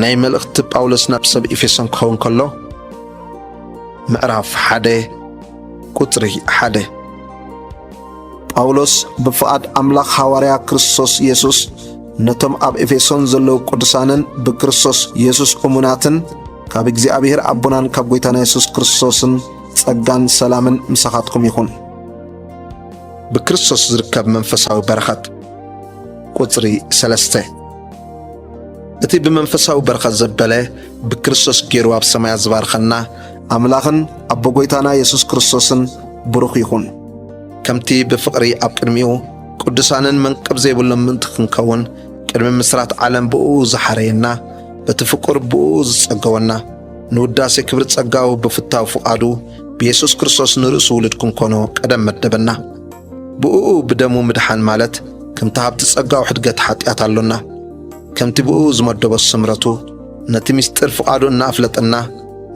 ናይ መልእኽቲ ጳውሎስ ናብ ሰብ ኤፌሶን ክኸውን ከሎ ምዕራፍ ሓደ ቁጽሪ ሓደ ጳውሎስ ብፍቓድ ኣምላኽ ሃዋርያ ክርስቶስ ኢየሱስ ነቶም ኣብ ኤፌሶን ዘለዉ ቅዱሳንን ብክርስቶስ ኢየሱስ እሙናትን ካብ እግዚኣብሔር ኣቦናን ካብ ጐይታና የሱስ ክርስቶስን ጸጋን ሰላምን ምሳኻትኩም ይኹን። ብክርስቶስ ዝርከብ መንፈሳዊ በረኸት ቁጽሪ ሰለስተ እቲ ብመንፈሳዊ በረኸት ዘበለ ብክርስቶስ ገይሩ ኣብ ሰማያት ዝባርኸና ኣምላኽን ኣቦ ጐይታና የሱስ ክርስቶስን ብሩኽ ይኹን። ከምቲ ብፍቕሪ ኣብ ቅድሚኡ ቅዱሳንን መንቅብ ዘይብሎም ምእንቲ ክንከውን ቅድሚ ምስራት ዓለም ብእኡ ዝሓረየና በቲ ፍቁር ብእኡ ዝጸገወና ንውዳሴ ክብሪ ጸጋው ብፍታው ፍቓዱ ብየሱስ ክርስቶስ ንርእሱ ውሉድ ክንኮኖ ቀደም መደበና። ብእኡ ብደሙ ምድሓን ማለት ከምቲ ሃብቲ ጸጋኡ ሕድገት ሓጢኣት ኣሎና። ከምቲ ብእኡ ዝመደቦ ስምረቱ ነቲ ምስጢር ፍቓዱ እናኣፍለጠና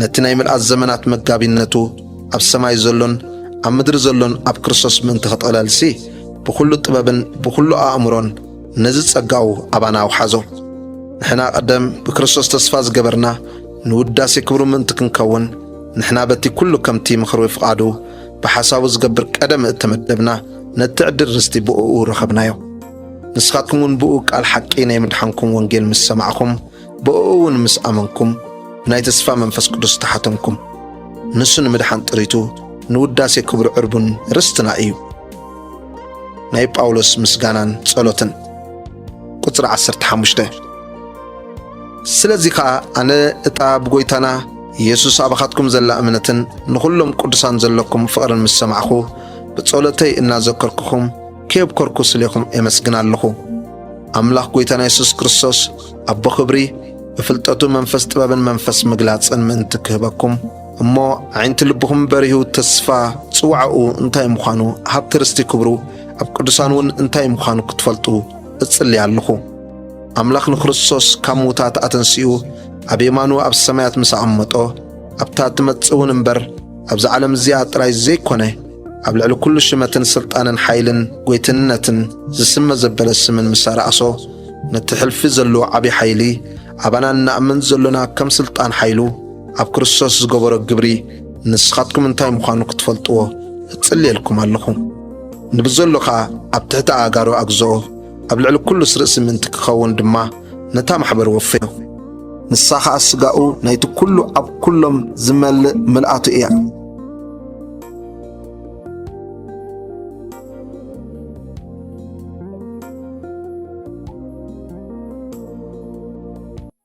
ነቲ ናይ ምልኣት ዘመናት መጋቢነቱ ኣብ ሰማይ ዘሎን ኣብ ምድሪ ዘሎን ኣብ ክርስቶስ ምእንቲ ክጥቕለልሲ ብዅሉ ጥበብን ብዅሉ ኣእምሮን ነዚ ጸጋኡ ኣባና ኣውሓዞ። ንሕና ቀደም ብክርስቶስ ተስፋ ዝገበርና ንውዳሴ ክብሩ ምእንቲ ክንከውን ንሕና በቲ ኵሉ ከምቲ ምኽሪ ፍቓዱ ብሓሳቡ ዝገብር ቀደም እተመደብና ነቲ ዕድል ርስቲ ብእኡ ረኸብናዮ። ንስኻትኩም እውን ብእኡ ቃል ሓቂ ናይ ምድሓንኩም ወንጌል ምስ ሰማዕኹም ብእኡ እውን ምስ ኣመንኩም ብናይ ተስፋ መንፈስ ቅዱስ ተሓተምኩም። ንሱ ንምድሓን ጥሪቱ ንውዳሴ ክብሩ ዕርቡን ርስትና እዩ። ናይ ጳውሎስ ምስጋናን ጸሎትን ቁጽሪ 15 ስለዚ ኸኣ ኣነ እታ ብጐይታና ኢየሱስ ኣባኻትኩም ዘላ እምነትን ንኹሎም ቅዱሳን ዘለኩም ፍቕርን ምስ ሰማዕኹ ብጸሎተይ እናዘከርኩኹም ከየብኮርኩ ስሌኹም ኤመስግን ኣለኹ። ኣምላኽ ጐይታና ኢየሱስ ክርስቶስ ኣቦ ክብሪ ብፍልጠቱ መንፈስ ጥበብን መንፈስ ምግላጽን ምእንቲ ክህበኩም እሞ ኣዒንቲ ልብኹም በሪሁ ተስፋ ጽዋዕኡ እንታይ ምዃኑ ሃብቲ ርስቲ ክብሩ ኣብ ቅዱሳን እውን እንታይ ምዃኑ ክትፈልጡ እጽሊ ኣለኹ። ኣምላኽ ንክርስቶስ ካብ ምዉታት ኣተንሲኡ ኣብ የማኑ ኣብ ሰማያት ምስ ኣቐመጦ ኣብታ እትመጽእ እውን እምበር ኣብዚ ዓለም እዚኣ ጥራይ ዘይኰነ ኣብ ልዕሊ ኵሉ ሽመትን ስልጣንን ሓይልን ጐይትነትን ዝስመ ዘበለ ስምን ምስ ኣርኣሶ ነቲ ሕልፊ ዘለዎ ዓብዪ ሓይሊ ኣባና እናእምን ዘሎና ከም ስልጣን ሓይሉ ኣብ ክርስቶስ ዝገበሮ ግብሪ ንስኻትኩም እንታይ ምዃኑ ክትፈልጥዎ እጽልየልኩም ኣለኹ ንብዘሎ ኸኣ ኣብ ትሕቲ ኣእጋሩ ኣግዝኦ ኣብ ልዕሊ ኩሉስ ርእሲ ምእንቲ ኪኸውን ድማ ነታ ማሕበር ወፈዮ። ንሳ ኸኣ ስጋኡ ናይቲ ኩሉ ኣብ ኩሎም ዝመልእ ምልኣቱ እያ።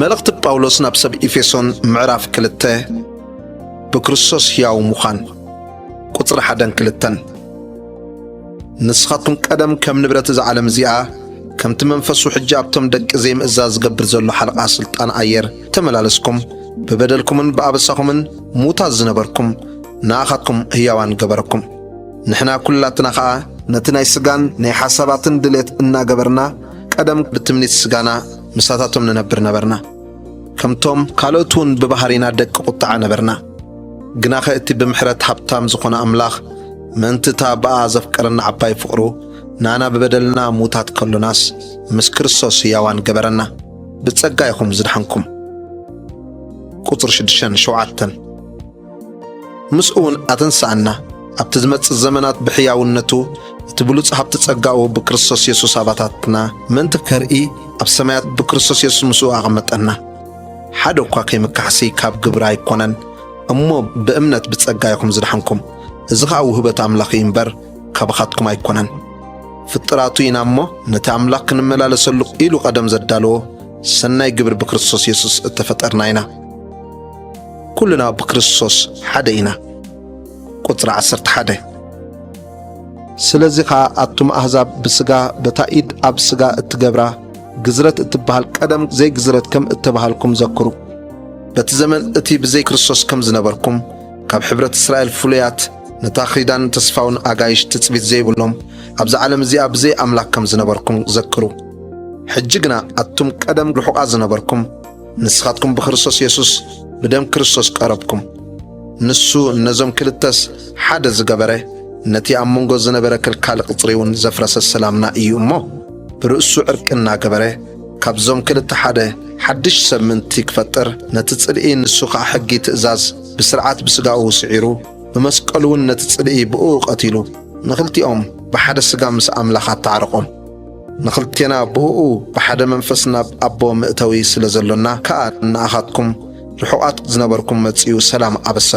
መልእኽቲ ጳውሎስ ናብ ሰብ ኤፌሶን ምዕራፍ ክልተ ብክርስቶስ ሕያው ምዃን ቁፅሪ ሓደን ክልተን ንስኻትኩም ቀደም ከም ንብረት እዛ ዓለም እዚኣ ከምቲ መንፈሱ ሕጂ ኣብቶም ደቂ ዘይምእዛዝ ዝገብር ዘሎ ሓለቓ ስልጣን ኣየር ተመላለስኩም ብበደልኩምን ብኣበሳኹምን ሙታት ዝነበርኩም ንኣኻትኩም ህያዋን ገበረኩም። ንሕና ኩላትና ኸኣ ነቲ ናይ ስጋን ናይ ሓሳባትን ድሌት እናገበርና ቀደም ብትምኒት ስጋና ምሳታቶም ንነብር ነበርና። ከምቶም ካልኦት እውን ብባህሪና ደቂ ቁጥዓ ነበርና። ግናኸ እቲ ብምሕረት ሃብታም ዝኾነ ኣምላኽ ምእንቲ እታ ብኣ ዘፍቀረና ዓባይ ፍቕሩ ንኣና ብበደልና ሙታት ከሎናስ ምስ ክርስቶስ ህያዋን ገበረና። ብጸጋ ኢኹም ዝደሓንኩም። ቁጽሪ ሽዱሽተን ሸውዓተን ምስኡውን ኣተንስኣና ኣብቲ ዝመጽእ ዘመናት ብሕያውነቱ እቲ ብሉጽ ሃብቲ ጸጋኡ ብክርስቶስ የሱስ ኣባታትና ምእንቲ ከርኢ ኣብ ሰማያት ብክርስቶስ የሱስ ምስኡ ኣቐመጠና። ሓደ እኳ ከይምካሕሲ ካብ ግብሪ ኣይኮነን እሞ ብእምነት ብጸጋ ኢኹም ዝደሓንኩም። እዚ ኸኣ ውህበት ኣምላኽ እዩ እምበር ካባኻትኩም ኣይኮነን፣ ፍጥራቱ ኢና እሞ ነቲ ኣምላኽ ክንመላለሰሉ ኢሉ ቀደም ዘዳለዎ ሰናይ ግብሪ ብክርስቶስ የሱስ እተፈጠርና ኢና። ኩልና ብክርስቶስ ሓደ ኢና። ቁጽሪ 11 ስለዚ ኸኣ ኣቱም ኣሕዛብ ብስጋ በታ ኢድ ኣብ ስጋ እትገብራ ግዝረት እትበሃል ቀደም ዘይግዝረት ከም እተባሃልኩም ዘክሩ። በቲ ዘመን እቲ ብዘይ ክርስቶስ ከም ዝነበርኩም ካብ ሕብረት እስራኤል ፍሉያት ነታ ኺዳን ተስፋውን ኣጋይሽ ትጽቢት ዘይብሎም ኣብዛ ዓለም እዚኣ ብዘይ ኣምላክ ከም ዝነበርኩም ዘክሩ። ሕጂ ግና ኣቱም ቀደም ርሑቓት ዝነበርኩም ንስኻትኩም ብክርስቶስ የሱስ ብደም ክርስቶስ ቀረብኩም። ንሱ ነዞም ክልተስ ሓደ ዝገበረ ነቲ ኣብ መንጎ ዝነበረ ክልካሊ ቅጽሪውን ዘፍረሰ ሰላምና እዩ እሞ ብርእሱ ዕርቂ እናገበረ ካብዞም ክልተ ሓደ ሓድሽ ሰብ ምእንቲ ክፈጥር ነቲ ጽልኢ ንሱ ኸኣ ሕጊ ትእዛዝ ብስርዓት ብስጋኡ ስዒሩ ብመስቀሉ ውን ነቲ ጽልኢ ብእኡ ቀቲሉ ንኽልቲኦም ብሓደ ስጋ ምስ ኣምላኽ ኣተዓረቖም። ንኽልቴና ብእኡ ብሓደ መንፈስ ናብ ኣቦ መእተዊ ስለ ዘሎና ከኣ ንኣኻትኩም ርሑቓት ዝነበርኩም መጺኡ ሰላም ኣበሰረኩም።